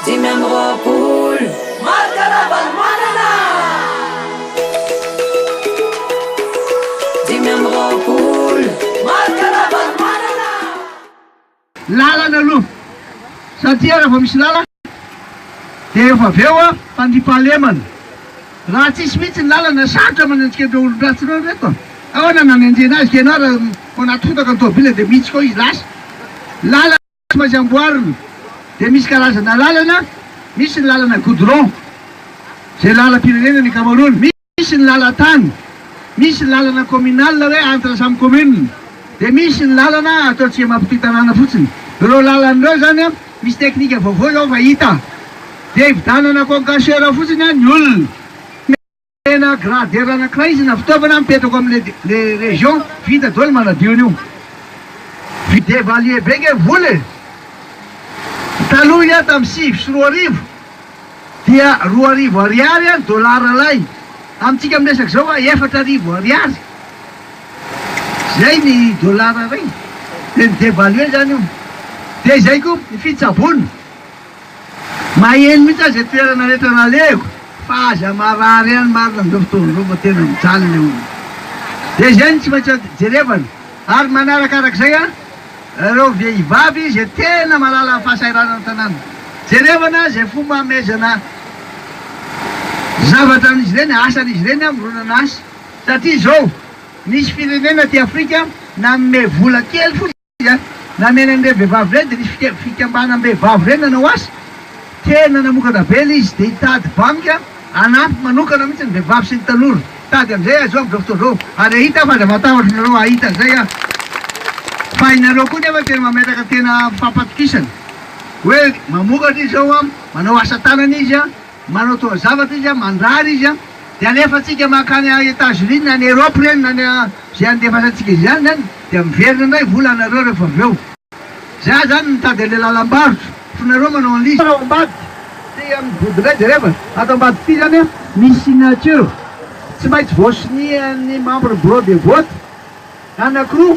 Dimy amby roapolo. Marc Ravalomanana! Dimy amby roapolo. Marc Ravalomanana! Lalana aloha satria raha vao misy lalana dia efa avy eo fandriampahalemana. Raha tsisy mihitsy ny lalana, sarotra manao antsika ireo olon-dratsy ireo ry reto a! Ahoana no hanenjehina azy ka ianao raha ao anaty fotaka ny tômôbila dia mihitsika ao izy lasa? Lalana. Tsy maintsy amboarina dia misy karazana lalana, misy ny lalana goudron izay lalam-pirenena ny ankamaroany, misy ny lalan-tany, misy ny lalana communal hoe entre samy commune, dia misy ny lalana ataontsika mampitohy tanàna fotsiny. Ireo lalana ireo izany an, misy teknika vaovao izao fa hita, dia hividanana concasseur fotsiny an ny olona. Tena grader anankiray izy na fitaovana mipetraka ao amin'ny le région vita daholo manadio an'io. Vide valier be nge vola e! Taloha iah tamin'ny sivy sy roa arivo dia roa arivo ariary an dollars lay. Amintsika miresaka izao an efatra arivo ariary zay ny dollars ray. Dia ni devaluer zany io. Dia izay koa ny fitsaboana. Maheno mihitsy aho zay toerana rehetra laleko fa aza marary ihany marina amin'izao fotoana izao fa tena mijaly ilay olona. Dia izay no tsy maintsy jerevana. Ary manaraka arak'izay an, ireo vehivavy izay tena mahalala ny fahasahiranana ny tanàna. Jerevana izay fomba hamehezana zavatra an'izy ireny, asan'izy ireny an, mironana asa. Satria izao, misy firenena aty Afrika nanome vola kely fotsiny. Namela an'ireny vehivavy ireny dia nisy fikambanam-behivavy ireny nanao asa. Tena namokatra be ilay izy dia hitady banky hanampy manokana mihitsy ny vehivavy sy ny tanora. Tady amin'izay aho izao amin'izao fotoana izao ary hahita aho fa aza matahotra anareo hahita an'izay aho. Fa ianareo koa nefa tena mametraka tena fampatokisana hoe mamokatra izy izao, manao asa tanana izy. Manao taozavatra izy, mandrara izy, dia alefantsika mankany à Etats Unis na any Europe ireny na any izay andefasantsika izy any izany dia miverina indray vola anareo rehefa avy eo. Za izany mitady an'ilay lalam-barotra fa nareo manao an'ilay izy ao ambadika dia amin'ny vody indray jereva ato ambadika ity izany misy signature tsy maintsy voasonia ny membre bureau de vote anankiroa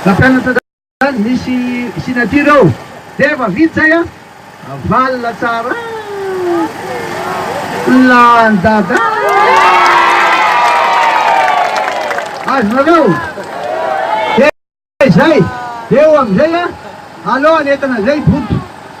na mpianatra Azy misy signature ao. Dia efa vita zay an! Avalona tsara an! Lany dada an! Azonareo? Dia izay! Dia eo amin'izay an! Alao an'entana izay boto.